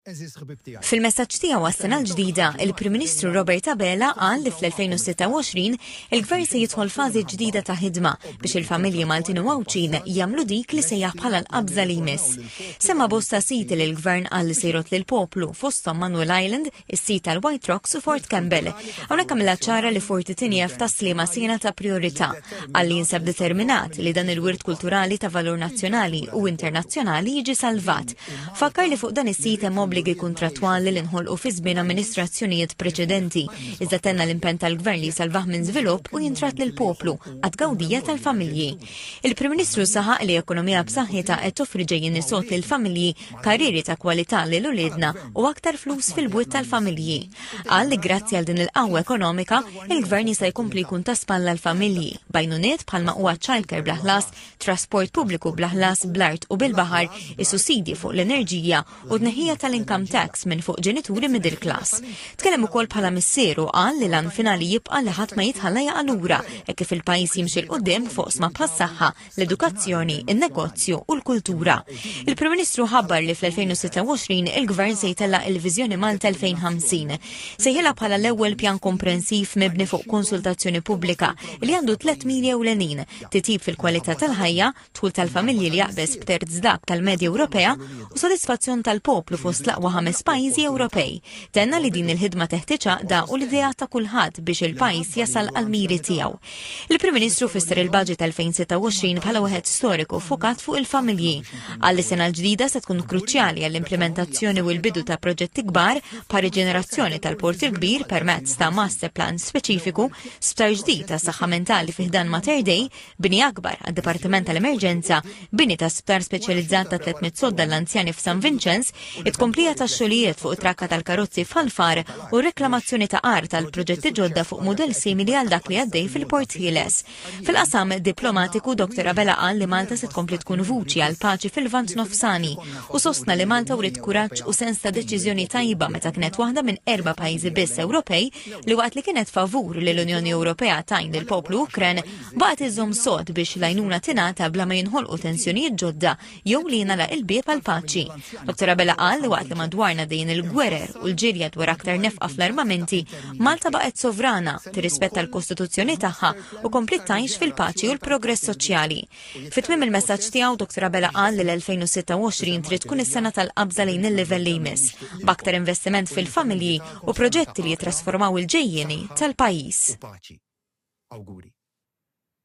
Għeżież ħbieb tiegħi. Fil-messaġġ tiegħu għas-Sena l-Ġdida, il-Prim Ministru Robert Abela qal li fl-2026 il-Gvern se jidħol fażi ġdida ta' ħidma biex il-familji Maltin u Għawdxin jagħmlu dik li sejjaħ bħala l-qabża li jmiss. Semma bosta siti li l-Gvern qal li se jrott lill-poplu fosthom Manuel Island, is-sit tal-White Rocks u Fort Campbell. Hawnhekk għamilha ċara li Forti Tinjef ta' Sliema sena ta' priorità. Qal li jinsab determinat li dan il-wirt kulturali ta' valur nazzjonali u internazzjonali jiġi salvat Fakkar li fuq dan is-sit hemm obbligi kuntrattwali li nħolqu fi żmien amministrazzjonijiet preċedenti, iżda tenna l-impenn tal-Gvern li jsalvah minn żvilupp u jintrat lil poplu għad gawdija tal-familji. Il-Prim Ministru saħaq li ekonomija b'saħħitha qed toffri ġejjin isod lil familji, karrieri ta' kwalità lil uliedna u aktar flus fil-bwiet tal-familji. Qal li grazzi għal din il-qawwa ekonomika, il-Gvern jista' jkompli jkun ta' spalla l-familji, bajnuniet bħalma huwa childcare bla ħlas, trasport pubbliku bla ħlas bl-art u bil-baħar, is-sussidji fuq l-enerġija u d-neħija tal-income tax minn fuq ġenituri middle class. Tkellem ukoll bħala missieru qal li lan finali jibqa' li ħadd ma jitħalla jaqa' lura hekk kif il-pajjiż jimxi l qudiem fuq sma bħas-saħħa, l-edukazzjoni, in-negozju u l-kultura. Il-Prim Ministru ħabbar li fl-2026 il-Gvern se jtella il-Viżjoni Malta 2050. Sejħilha bħala l-ewwel pjan komprensiv mibni fuq konsultazzjoni pubblika li għandu tliet mili ewlenin titjib fil-kwalità tal-ħajja, dħul tal-familji li jaqbeż b'terz dak tal-medja Ewropea u sodisfazzjon tal-poplu fost l-aqwa ħames pajjiżi Ewropej. Tenna li din il-ħidma teħtieġ għaqda u l-ideat ta' kulħadd biex il-pajjiż jasal għall-miri tiegħu. Il-Prim Ministru fisser il-Baġit 2026 bħala wieħed storiku fukat fuq il-familji. Għal sena l-ġdida se tkun kruċjali għall-implementazzjoni u l-bidu ta' proġetti kbar pa' riġenerazzjoni tal-Port il-Kbir permezz ta' master plan speċifiku Sptar ġdid ta' saħħa mentali fi ħdan Mater Dei, bini akbar għad dipartiment tal-Emerġenza, bini ta' sptar speċjalizzat ta' 300 sodda l-anzjani f'San Vinċenz, it-komplija ta' xogħlijiet fuq it-trakka tal-karozzi f'Alfar u reklamazzjoni ta' ar tal-proġetti ġodda fuq mudell simili għal dak li għaddej fil-Port Ħieles. Fil-qasam diplomatiku Dr. Abela qal li Malta se tkompli tkun vuċi għal paċi fil-Vant Nofsani u sostna li Malta wrid kuraġġ u sens ta' deċiżjoni tajba meta kienet waħda minn erba' pajjiżi biss Ewropej li waqt li kienet favur li l-Unjoni Ewropea tajn lil poplu Ukren baqgħet iżżomm sod biex l-għajnuna tingħata bla ma jinħolqu tensjonijiet ġodda jew li jingħalaq il-bieb għal paċi. Dr. Abela qal li waqt li madwarna dejn il-gwerer u l-ġirja dwar aktar nefqa fl-armamenti, Malta baqgħet sovrana, tirrispetta l-Kostituzzjoni tagħha u kompliet tgħix fil-paċi u l-progress soċjali. Fi tmiem il-messaġġ tiegħu, Dr Abela qal li l-2026 trid tkun is-sena tal-qabża lejn il-livell li jmiss, b'aktar investiment fil-familji u proġetti li jittrasformaw il-ġejjieni tal-pajjiż.